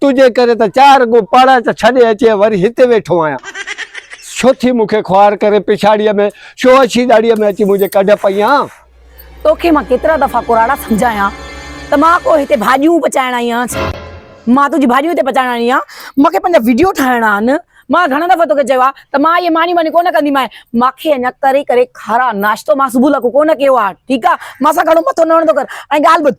تنهنجي ڪري ته چار ڳون پاڙاچ ڇڏي اچي وري هتي ويٺو آهيان. ڇو ٿي مون کي خوار ڪري پڇاڙيء ۾ ڇو اڇي ڏاڙهيء ۾ اچي منهنجي ڪڍ پئيان؟ توکي مان ڪيترا دفعا ڪراڙا سمجهايان ته مان ڪو هتي ڀاڄيون پچائڻ آئي آهيان ڇا؟ مان تنهنجي ڀاڄيون هتي پچائڻ آئي آهيان؟ مون کي پنهنجا وڊيو ٺاهڻا آهن. مان گهڻا دفعا توکي چيو آهي ته مان اهي مانيون وانيون ڪونه ڪندي مانء. مان کي اڃا تري ڪري کاراء ناشتو مان صبح لاء ڪو ڪونه ڪيو آهي ٺيڪ آهي. مان سان گهڻو مٿو نه هڻندو ڪر ۽ ڳالهه ٻڌ.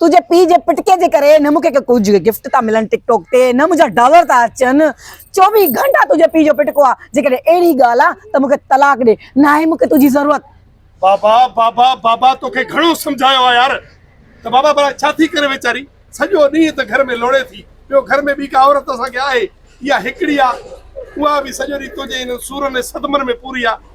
تنهنجي پيء جي پٽڪي جي ڪري نه مون کي ڪي ڪجهه گفٽ ٿا ملن ٽڪ ٽاڪ تي نه منهنجا ڊالر ٿا اچن چوويهه گهنٽا تنهنجي پيء جو پٽڪو آهي جيڪڏهن اهڙي ڳالهه آهي ته مون کي طلاق ڏي ناهي مون کي تنهنجي ضرورت بابا بابا بابا توکي گهڻو سمجهايو آهي يار ته بابا ڀلا ڇا ٿي ڪري ويچاري سڄو ڏينهن ته گهر ۾ لوڙي ٿي ٻيو گهر ۾ ٻي ڪا عورت اسان کي آهي اها هڪڙي آهي اها به سڄو ڏينهن تنهنجي انهن سورن ۽ صدمن ۾ پوري آهي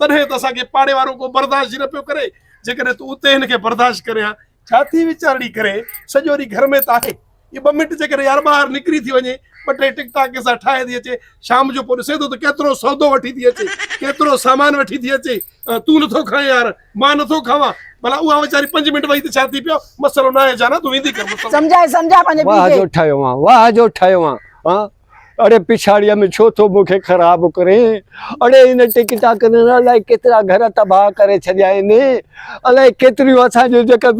تڏهن ته اسان کي پاڙي وارو ڪو برداشت ئي نه پيو ڪري، جيڪڏهن تون اتي هن کي برداشت ڪرين ها. ڇا ٿي ويچارڙي ڪري، سڄو ڏينهن گهر ۾ ته آهي. هي ٻه منٽ جيڪڏهن يار ٻاهر نڪري ٿي وڃي، ٻه ٽي ٽڪ ٽاڪ ڪنهن سان ٺاهي ٿي اچي، شام جو پوء ڏسين ٿو ته ڪيترو سودو وٺي ٿي اچي، ڪيترو سامان وٺي ٿي اچي. تون نٿو کائين يار، مان نٿو کاوان. ڀلا اها ويچاري پنج منٽ ويهي ته ڇا ٿي پيو، مسئلو ناهي جانا، تون ويندي ڪر. مطلب. سمجهاء سمجهاء پنهنجي پيء کي. واهه جو ٺهيو آن، واهه جو ٺهيو آن. اڙي پڇاڙيء ۾ ڇو ٿو مون کي خراب ڪرين؟ اڙي هن ٽڪ ٽاڪن الائي ڪيترا گهر تباهه ڪري ڇڏيا آهن. الائي ڪيتريون اسان جون جيڪي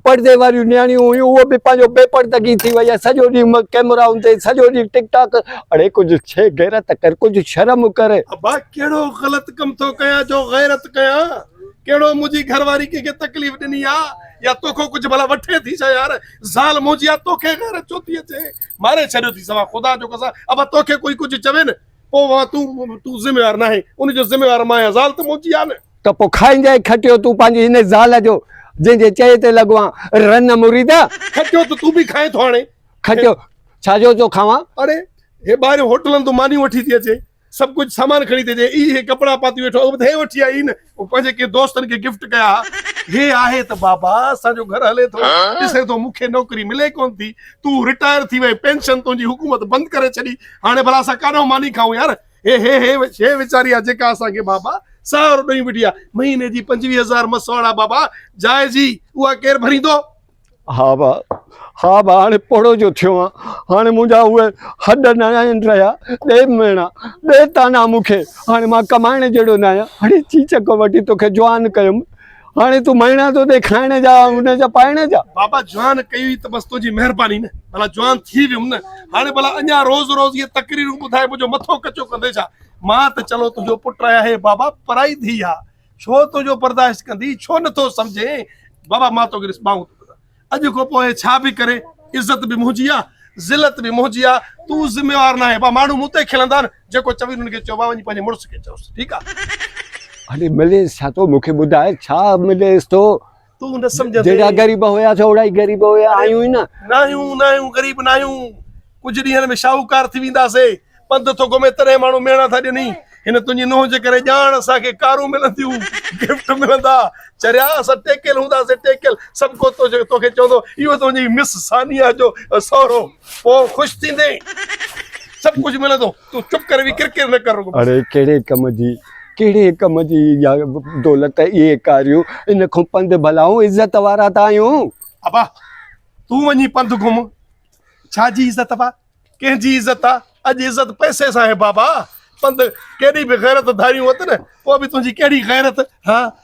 پڙدي واريون نياڻيون هيون اهي به پنهنجو بي پڙدگي ٿي وئي آهي. سڄو ڏينهن ڪئميرائن تي سڄو ڏينهن ٽڪ ٽاڪ. اڙي ڪجهه ڇي غيرت ڪر ڪجهه شرم ڪر. ابا ڪهڙو غلط ڪم ٿو ڪيان جو غيرت ڪيان. ڪهڙو منهنجي گهر واري ڪنهن کي تڪليف ڏني آهي يا توکو ڪجهه ڀلا وٺي ٿي ڇا يار. زال منهنجي آهي توکي غيرت ڇو ٿي اچي. ماري ڇڏيو ٿي سوا خدا جو قسم ابا توکي ڪوئي ڪجهه چوي نه پو وها تون تون ذميوار ناهي ان جو ذميوار مان يا زال ته منهنجي آ نه ته پو کائينجائي کٽيو تون پنهنجي هن زال جو جنهن جي چئي تي لڳو آن رن مريدا. کٽيو ته تون به کائين ٿو هاڻي. کٽيو ڇا جو ٿو کاوان. اڙي هي ٻاهريون هوٽلن تون مانيون وٺي ٿي اچي. سڀ ڪجهه سامان کڻي تي جي اي هي ڪپڙا پاتي ويٺو اهو هي وٺي آئي نه او پنهنجي ڪي دوستن کي گفٽ ڪيا ها هي آهي ته بابا اسان جو گهر هلي ٿو ڏسين ٿو مون کي نوڪري ملي ڪون ٿي تون رٽائر ٿي وئين پينشن تنهنجي حڪومت بند ڪري ڇڏي هاڻي ڀلا اسان ڪاڏهو ماني کائون يار هي هي هي هي ويچاري آ جيڪا اسان کي بابا سهارو ڏئي وٺي آ مهيني جي پنجويهه هزار مسواڙا بابا جائزي اها ڪير ڀريندو. ها ڀاء، ها ڀاء، هاڻي پوڙهو جو ٿيو آهيان. هاڻي منهنجا اهي هڏ نه آهن رهيا. ڏي ميڻا، ڏي تانا مون کي. هاڻي مان ڪمائڻ جهڙو نه آهيان. هڙي چيچڪ وٺي تو کي جوان ڪيم. هاڻي تون ميڻا ٿو ڏي کائڻ جا ۽ هن جا پائڻ جا. بابا جوان ڪئي هئي ته بس تنهنجي مهرباني نه. ڀلا جوان ٿي ويم نه. هاڻي ڀلا اڃا روز روز اهي تقريرون ٻڌائي منهنجو مٿو ڪچو ڪندين ڇا؟ مان ته چلو تنهنجو پٽ آهيان. هي بابا پرائي ڌيء آهي. ڇو تنهنجو برداشت ڪندي ڇو نٿو سمجهين بابا مان توکي ڏس ٻانهون ٿو اڄ کان پوء ڇا به ڪري عزت به منهنجي آ ذلت به منهنجي آ تون ذميوار ناهي با ماڻهو مون تي کلندا آهن جيڪو چوي انهن کي چئو با وڃي پنهنجي مڙس کي چئوس ٺيڪ آ هلي مليس ڇا ٿو مونکي ٻڌاء ڇا مليس ٿو تون نه سمجهندين. جهڙا غريب هيا سا اهڙا ئي غريب هيا آهيون ئي نه. ناهيون ناهيون غريب ناهيون. ڪجهه ڏينهن ۾ شاهوڪار ٿي وينداسين. پنڌ ٿو گهمين تڏهن ماڻهو ميڻا ٿا ڏين. هن تنهنجي نونهن جي ڪري ڄاڻ اسان کي ڪارون ملنديون، گفٽ ملندا. چريا اسان ٽيڪيل هونداسين ٽيڪيل. سڀڪو توکي چوندو اهو تنهنجي مس ثانيه جو سهرو. پوء خوش ٿيندين. سڀ ڪجهه ملندو. تون چپ ڪر وي ڪرڪر نه ڪر رڳو. اڙي ڪهڙي ڪم جي ڪهڙي ڪم جي اها دولت اهي ڪاريون ان کون پنڌ ڀلائون عزت وارا ته آهيون. ابا تون وڃي پنڌ گهم ڇا جي عزت ابا ڪنهن جي عزت آ اڄ عزت پئسي سان آهي بابا پنڌ ڪيڏي به غيرت ڌاريون اٿ نه پوء به تنهنجي ڪهڙي غيرت ها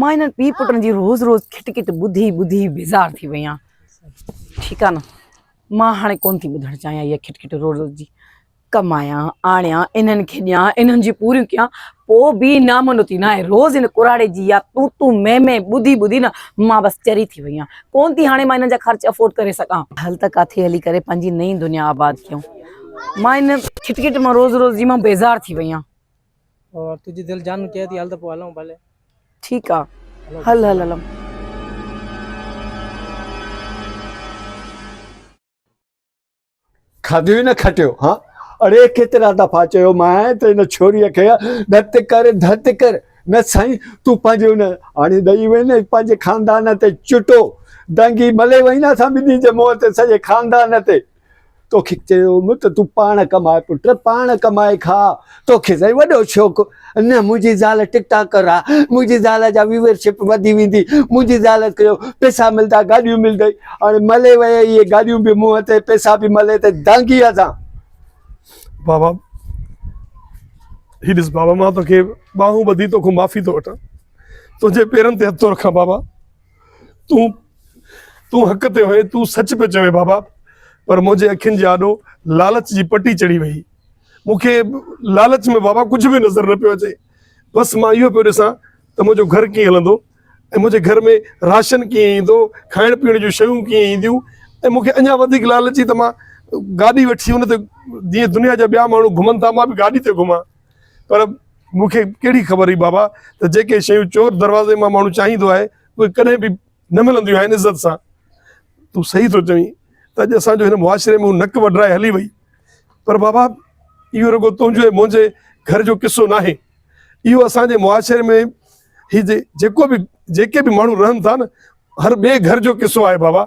مان انهن پيء پٽن جي روز روز کٽ کٽ ٻڌي ٻڌي بيزار ٿي وئي آهيان ٺيڪ آهي نه مان هاڻي ڪونه ٿي ٻڌڻ چاهيان اها کٽ کٽ روز روز جي ڪمايان آڻيان انهن کي ڏيان انهن جي پوريون ڪيان پوء به نامو نتي ناهي روز هن ڪراڙي جي يا تون تون مين مين ٻڌي ٻڌي نه مان بس چري ٿي وئي آهيان ڪونه ٿي هاڻي مان انهن جا خرچ افورڊ ڪري سگهان هل ته ڪاٿي هلي ڪري پنهنجي نئين دنيا آباد ڪيون مان ان کٽ کٽ مان روز روز جي مان بيزار ٿي وئي آهيان اور تجھي دل جانو چهي ٿي هل ته پوء هلون ڀلي. ٺيڪ آ هل هل هلون. کاڌيو ئي نه کٽيو ها. اڙي ڪيترا دفعا چيو مانء ته ان ڇوريء کي ڌت ڪر ڌت ڪر. نه سائين تون پنهنجي ان هاڻي ڏئي وئين نه پنهنجي خاندان تي چٽو. دانگي ملي وئين نه اسان ٻنهي جي منهن تي سڄي خاندان تي. توکي چيوم ته تون پاڻ ڪماء پٽ، پاڻ ڪمائي کاء، توکي سائين وڏو شوق نه منهنجي زال ٽڪ ٽاڪر آ، منهنجي زال جا ويور شپ وڌي ويندي، منهنجي زال کي پئسا ملدا، گاڏيون ملدئي، هاڻي ملي ويئي اهي گاڏيون به منهن تي، پئسا به ملي تي، دانگي آ سان. بابا هي ڏس بابا مان توکي ٻانهون ٻڌي توکون معافي ٿو وٺان، تنهنجي پيرن تي هٿ ٿو رکان بابا. تون تون حق تي هئين، تون سچ پيو چوين بابا، پر منهنجي اکين جي آڏو لالچ جي پٽي چڙهي ويئي. مون کي لالچ ۾ بابا ڪجهه به نظر نه پيو اچي، بس مان اهو پيو ڏسان ته منهنجو گهر ڪيئن هلندو ۽ منهنجي گهر ۾ راشن ڪيئن ايندو، کائڻ پيئڻ جون شيون ڪيئن اينديون ۽ مون کي اڃا وڌيڪ لالچ هئي ته مان گاڏي وٺي ان تي جيئن دنيا جا ٻيا ماڻهو گهمن ٿا مان به گاڏي تي گهمان. پر مون کي ڪهڙي خبر هئي بابا ته جيڪي شيون چور دروازي مان ماڻهو چاهيندو آهي اهي ڪڏهن به نه ملنديون آهن عزت سان تون صحيح ٿو چوين ته اڄ اسان جو هن معاشري ۾ نڪ وڍرائي هلي وئي پر بابا اهو رڳو تنهنجو ۽ منهنجي گهر جو قصو نه آهي اهو اسانجي معاشري ۾ هي جيڪو به جيڪي به ماڻهو رهن ٿا نه هر ٻئي گهر جو قصو آهي بابا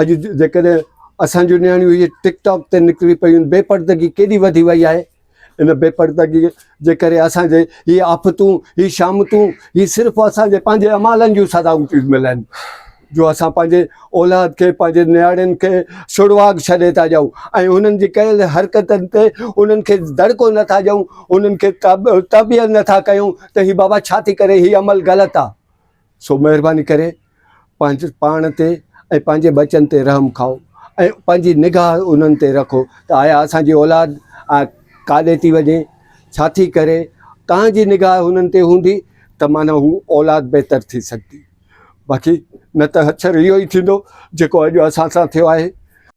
اڄ جيڪڏهن اسان جون نياڻيون اهي ٽڪ ٽاڪ تي نڪري پيون، بي پڙدگي ڪيڏي وڌي وئي آهي. ان بي پڙدگي جي ڪري اسان جي هي آفتون، هي شامتون، هي صرف اسان جي پنهنجي اعمالن جون سزائون ٿيون ملن، جو اسان پنهنجي اولاد کي، پنهنجي نياڻين کي سڙواڳ ڇڏي ٿا ڏيون ۽ انهن جي ڪيل حرڪتن تي انهن کي دڙڪو نه ٿا ڏيون، انهن کي تربيت نه ٿا ڪيون ته هي بابا ڇا ٿي ڪرين، هي عمل غلط آ. سو مهرباني ڪري پنهنجي پاڻ تي ۽ پنهنجي ٻچن تي رحم کائو ۽ پنهنجي نگاهه انهن تي رکو ته آيا اسان جي اولاد ڪاڏي ٿي وڃي ڇا ٿي ڪري تنهن جي نگاهه انهن تي هوندي ته معنيٰ هو اولاد بهتر ٿي سگهندي باقي نه ته اڪثر اهو ئي ٿيندو جيڪو اڄ اسان سان ٿيو آهي.